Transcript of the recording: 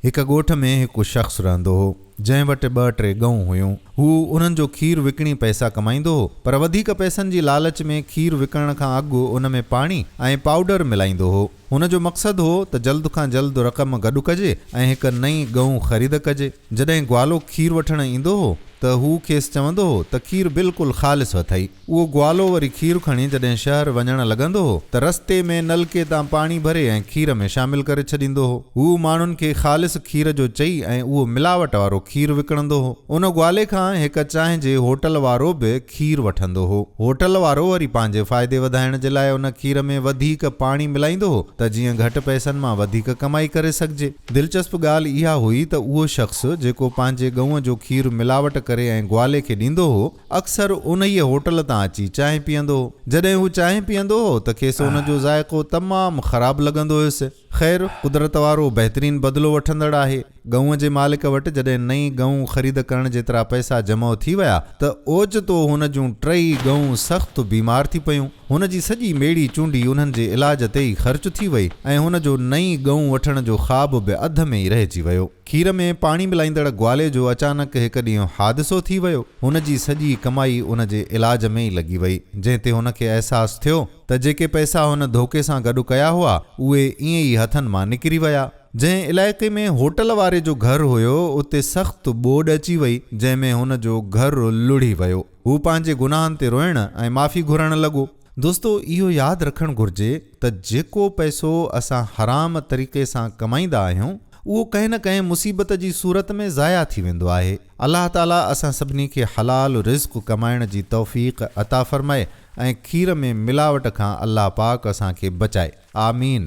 هڪ ڳوٺ ۾ هڪ شخص رهندو هو، جنهن وٽ ٻه ٽي ڳئون هيون. هو انهن جو کير وڪڻي پئسا ڪمائيندو هو، پر وڌيڪ پئسن جي لالچ ۾ کير وڪڻڻ کان اڳ ان ۾ پاڻي ۽ پائوڊر ملائيندو هو. هن جو مقصد هو ته جلد کان جلد رقم گڏ ڪجي ۽ هڪ نئين ڳئون خريد ڪجي. جڏهن گوالو کير وٺڻ ايندو هو ته هو کيس چوندو هو ته کير بلڪل خالص اٿئي. اهو گوالو وري کير کڻي جڏهن شهر وڃڻ لڳندو هو ته رستي ۾ نلڪي تان پاڻي ڀري ۽ کير ۾ شامل ڪري ڇڏيندو هو. هو ماڻهن کي خالص کير جو چئي ۽ اهو ملاوٽ وارو کير وڪڻندو هو. ان گوالي کان هڪ چانهه جي هوٽل وارو به کير وٺندو هو. هوٽل وارو وري پنهنجي فائدي وڌائڻ جي لاء ان کير ۾ وڌيڪ پاڻي ملائيندو هو ته جيئن گهٽ پئسن مان وڌيڪ ڪمائي ڪري سگهجي. دلچسپ ڳالهه اها هئي ته اهو شخص جيڪو پنهنجي ڳئون جو کير ملاوٽ ڪري ۽ گوالي کي ڏيندو هو، اڪثر انهيء هوٽل تان اچي چانهه پيئندو هو. جڏهن هو چانهه پيئندو هو ته کيس ان جو ذائقو تمام خراب لڳندو هيس. خير، قدرت وارو بهترين بدلو وٺندڙ آهي. ڳئون جي مالڪ وٽ جڏهن نئين ڳئون خريد ڪرڻ جيترا پئسا جمع ٿي ويا ته اوچتو هن جون ٽيئي ڳئون سخت بيمار ٿي پيون. هن جي سڄي ميڙي چونڊي انهن جي علاج تي ئي خرچ ٿي وئي ۽ هن جو نئين ڳئون وٺڻ جو خواب به اڌ ۾ ئي رهجي ويو. کير ۾ پاڻي ملائيندڙ گوالي جو اچانڪ هڪ ڏينهن حادثو ٿي ويو. هن جي سڄي ڪمائي ان جي علاج ۾ ئي لڳي وئي، جنهن تي هن کي احساس ٿيو ته جيڪي پئسا هن ڌوڪي سان گڏ ڪيا هئا، اهي ائين ئي هٿن مان نڪري ويا. جنهن علائقي ۾ هوٽل واري جو گهر هيو، اتي سخت ٻوڏ اچي وئي، جنهن ۾ هن جو گهر لڙهي ويو. هو پنهنجي گناهن تي روئڻ ۽ معافي گهرڻ لڳو. دوستو اهو ياد رکڻ گهرجي ته جيڪو پئسو اسان حرام طريقي سان ڪمائيندا آهيون اهو ڪنهن نه ڪنهن مصيبت جي صورت ۾ ضايع ٿي ويندو آهي الله تعالي اسان سڀني کي حلال رزق ڪمائڻ جي توفيق عطا فرمائي ۽ کير ۾ ملاوٽ کان الله پاڪ اسان کي بچائي آمين.